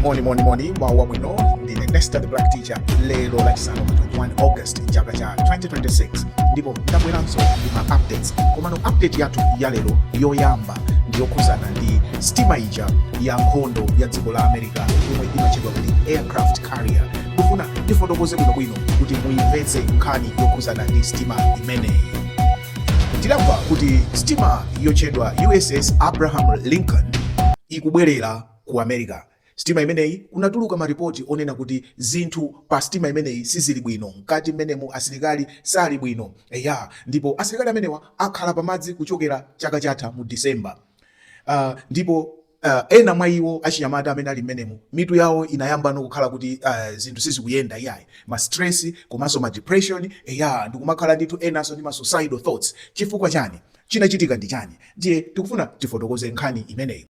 moni moni moni mawa wabwino ndine nesta the black teacher lero lachisanu pa 21 august chaka cha 2026 ndipo ndabweranso ndi ma updates komano update yathu ya lero yoyamba ndiyokhudzana ndi stima ija ya nkhondo ya dziko la america yomwe imatchedwa kuti aircraft carrier ndikufuna ndifotokoze bwinobwino kuti muyimvetse nkhani yokhudzana ndi stima imeneyi Tidamva kuti sitima yotchedwa USS Abraham Lincoln ikubwerera ku America. Sitima imeneyi kunatuluka maripoti onena kuti zinthu pa sitima imeneyi sizili bwino, mkati mmenemu asilikali sali bwino. Eya, ndipo asilikali amenewa akhala pamadzi kuchokera chaka chatha mu December. Uh, ndipo Uh, ena mwa iwo achinyamata amene ali mmenemo mitu yawo inayambano kukhala kuti uh, zinthu sizikuyenda iyayi ma stress komanso ma depression eya ndikumakhala ndithu enanso ndi ma suicidal thoughts chifukwa chani chinachitika ndi chani ndiye tikufuna tifotokoze nkhani imeneyi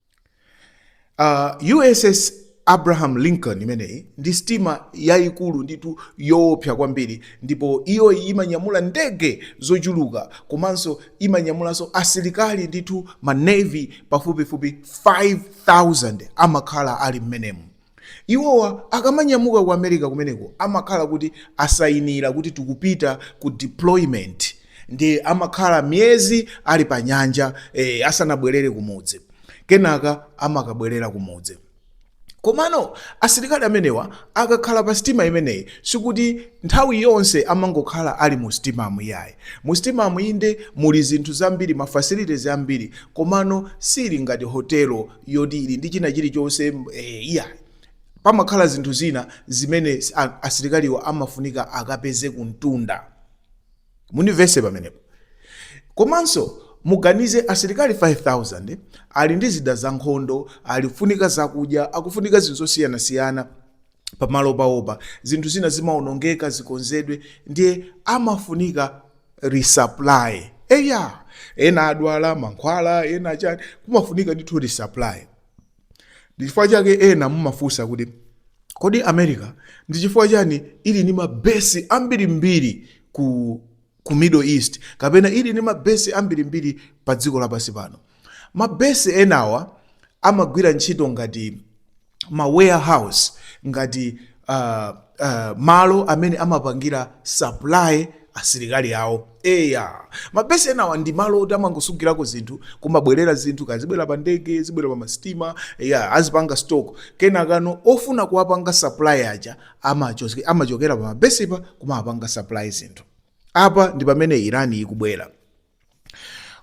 uh, USS Abraham Lincoln imeneyi ndi sitima yayikulu ndithu yoopsa kwambiri ndipo iyo imanyamula ndege zochuluka komanso imanyamulanso asilikali ndithu ma navy pafupifupi 5000 amakhala ali mmenemu. Iwowa akamanyamuka ku America kumeneko amakhala kuti asayinira kuti tikupita ku deployment ndiye amakhala miyezi ali pa nyanja eh, asanabwerere kumudzi. kenaka amakabwerera kumudzi komano asilikali amenewa akakhala pa sitima imeneyi sikuti nthawi yonse amangokhala ali mu sitimamu iyayi mu sitimamu inde muli zinthu zambiri ma facilities ambiri komano sili ngati hotelo yoti ili ndi china chilichonse eh, iyayi pamakhala zinthu zina zimene a- asilikaliwa amafunika akapeze kumtunda mundimvese pamenepo komanso muganize asilikali 5000 ali ndi zida za nkhondo akufunika zakudya akufunika zinthu zosiyanasiyana pamalo pawopa zinthu zina zimaonongeka zikonzedwe ndiye amafunika resupply eya ena adwala mankhwala ena chani kumafunika ndithu resupply ndi chifukwa chake ena mumafunsa kuti kodi america ndi chifukwa chani ili ndi mabesi ambirimbiri ku, ku middle east kapena ili ndi mabesi ambirimbiri pa dziko lapansi pano mabesi enawa amagwira ntchito ngati ma warehouse ngati uh, uh, malo amene amapangira supply asilikali awo Eya, mabesi enawa ndi malo oti amangosungirako zinthu, kumabwerera zinthu, kaya zibwera pa ndege, zibwera pa masitima, eya, azipanga stock. Kenakano ofuna kuwapanga supply aja amacho- amachokera pa mabesipa kumawapanga supply zinthu. Apa ndi pamene Iran ikubwera.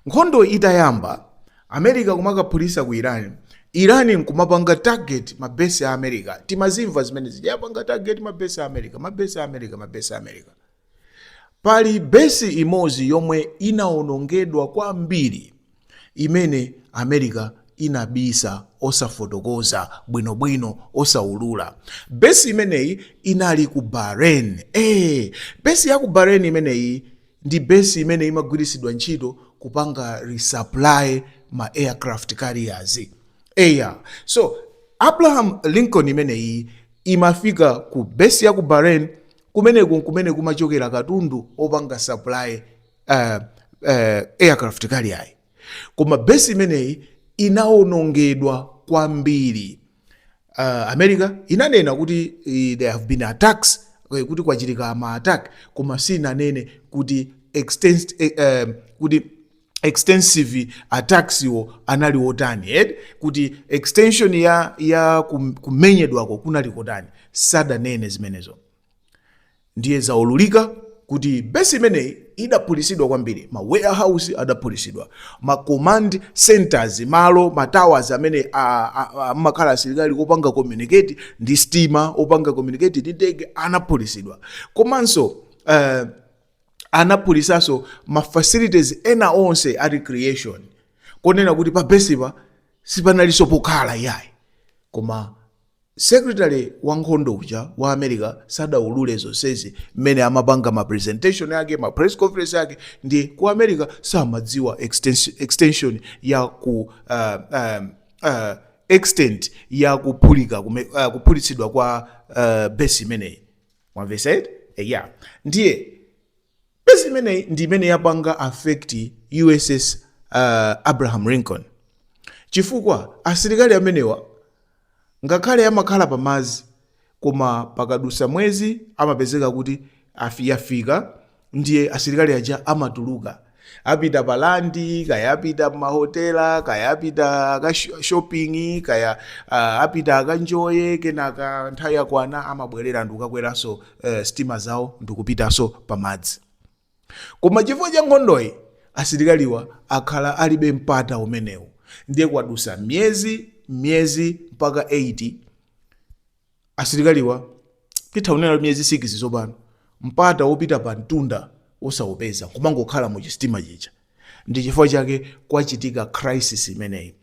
Nkhondo itayamba, America kumakaphulisa ku Iran, Iran nkumapanga target mabesi a America. Timazimva zimene zija, yapanga target mabesi a America, mabesi a America, mabesi a America. Pali besi imodzi yomwe inawonongedwa kwambiri imene America inabisa osafotokoza bwinobwino, osaulula. Besi imeneyi inali ku Bahrain. Ee, besi ya ku Bahrain imeneyi ndi besi imene imagwiritsidwa ntchito kupanga resupply ma aircraft carriers. Eya, so Abraham Lincoln imeneyi imafika ku besi ya ku Bahrain Kumeneku n'kumene kumachokera katundu wopanga supply uh, uh, aircraft carrier. Koma besi imeneyi inawonongedwa kwambiri. Uh, America inanena kuti eh, there have been attacks eh, kuti kwachitika ma attack koma sinanene kuti extensed eh, eh, kuti extensive attacks wo anali otani eh kuti extension ya ya kum- kumenyedwako kunali kotani sadanene zimenezo ndiye zaululika kuti besi imeneyi idaphulisidwa kwambiri ma warehouse adaphulisidwa ma command centers malo ma towers amene a- a- a- amakhala asilikali opanga communicate ndi stima opanga communicate ndi ndege anaphulisidwa komanso uh, anaphulisanso ma facilities ena onse a recreation konena kuti pa besipa sipanalinso pokhala yayi koma secretary wa nkhondo uja wa america sadaulule zonsezi mmene amapanga ma presentation ake ma press conference ake ndi ku america samadziwa extens- extension ya ku uh, um, uh, extent ya kuphulika kume- uh, kuphulitsidwa kwa uh, besi imeneyi mwamvesa eti eya ndiye besi imeneyi ndi imene yapanga affect uss uh, abraham lincoln chifukwa asilikali amenewa ngakhale amakhala pamazi koma pakadusa mwezi amapezeka kuti afi- yafika ndiye asilikali aja amatuluka apita pa landi kaya apita mahotela kaya apita aka sho- shopping kaya uh, apita akanjoye kenaka nthawi yakwana amabwerera n'kukakweranso uh, stima zawo ndikupitanso pamadzi koma chifukwa cha nkhondoyi asilikaliwa akhala alibe mpata umenewu ndiye kwadusa miyezi miyezi mpaka 8 Asilikaliwa titha kunena kuti miyezi 6 tsopano mpata wopita pa mtunda osaupeza kumangokhala mu chisitima chija ndi chifukwa chake kwachitika crisis imeneyi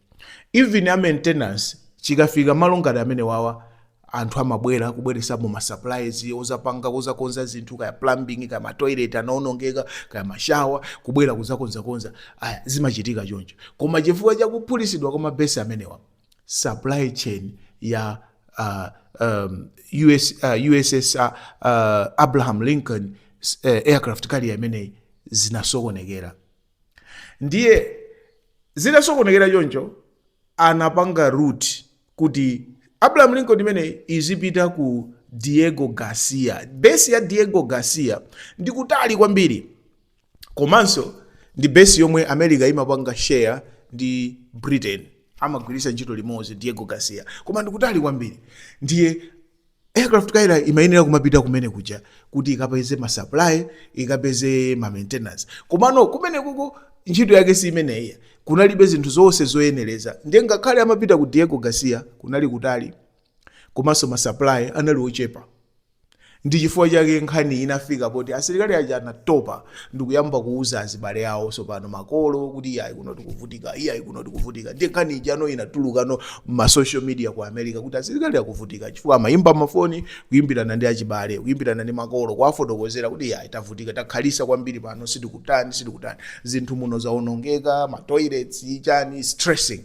even a maintenance chikafika malo ngati amenewawa anthu amabwera kubweresapo ma supplies ozapanga kuzakonza zinthu kaya plumbing kaya ma toilet anaonongeka kaya mashawa kubwera kuzakonzakonza aya zimachitika choncho koma chifukwa cha kuphulisidwa kwa mabesi amenewa supply chain ya uh, um, US, uh, USS uh, uh, Abraham Lincoln uh, aircraft carrier imeneyi zinasokonekera ndiye zinasokonekera choncho anapanga route kuti Abraham Lincoln imeneyi izipita ku Diego Garcia base ya Diego Garcia ndi kutali kwambiri komanso ndi base yomwe america imapanga share ndi britain amagwiritsa ntchito limodzi diego garcia koma ndikutali kwambiri ndiye aircraft carrier imayenera kumapita kumene kuja kuti ikapeze ma supply ikapeze ma maintenance komano kumene kuko ntchito yake si imeneyi kunalibe zinthu zonse zoyenereza ndiye ngakhale amapita ku diego garcia kunali kutali komanso ma supply anali ochepa Ndi chifukwa chake nkhani inafika poti asilikali aja anatopa ndikuyamba kuuza azibale awo tsopano makolo kuti iyayi kuno tikuvutika, iyayi kuno tikuvutika. Ndiye nkhani ijano inatulukano m'ma social media ku America kuti asilikali akuvutika chifukwa amayimba mafoni kuyimbirana ndi achibale, kuyimbirana ndi makolo kuwafotokozera kuti iyayi tavutika, takhalisa kwambiri pano sitikutani, sitikutani. Zinthu muno zaonongeka, ma toilets, chani, stressing.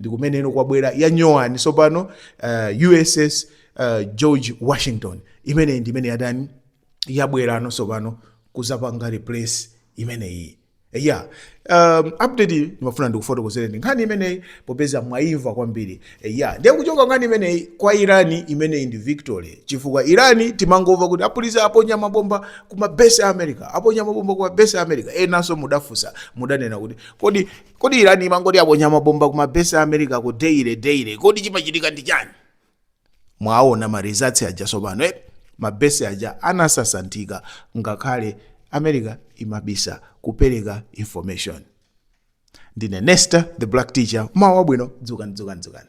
ndi kumeneno kwabwera yanyowani tsopano uh, uss uh, george washington imeneyi ndi imene yatani yabwerano tsopano kuzapanga replace imeneyi ya um, update ndimafuna ndikufotokozereni nkhani imeneyi popeza mwayimva kwambiri ya ndiye kuchoka nkhani imeneyi kwa irani imeneyi ndi victory chifukwa irani timangomva kuti aphulitsa aponya mabomba ku mabesi a america aponya mabomba ku mabesi a america enanso mudafunsa mudanena kuti kodi Kodi Iran imangoti yaponya mabomba ku ma base a America ko daily daily kodi chimachitika ndi chani? Mwaona ma results aja sopano eh? Ma base aja anasasanthika ngakhale America imabisa kupereka information. Ndine Nesta the Black Teacher, mmawa wabwino, dzukani dzukani dzukani.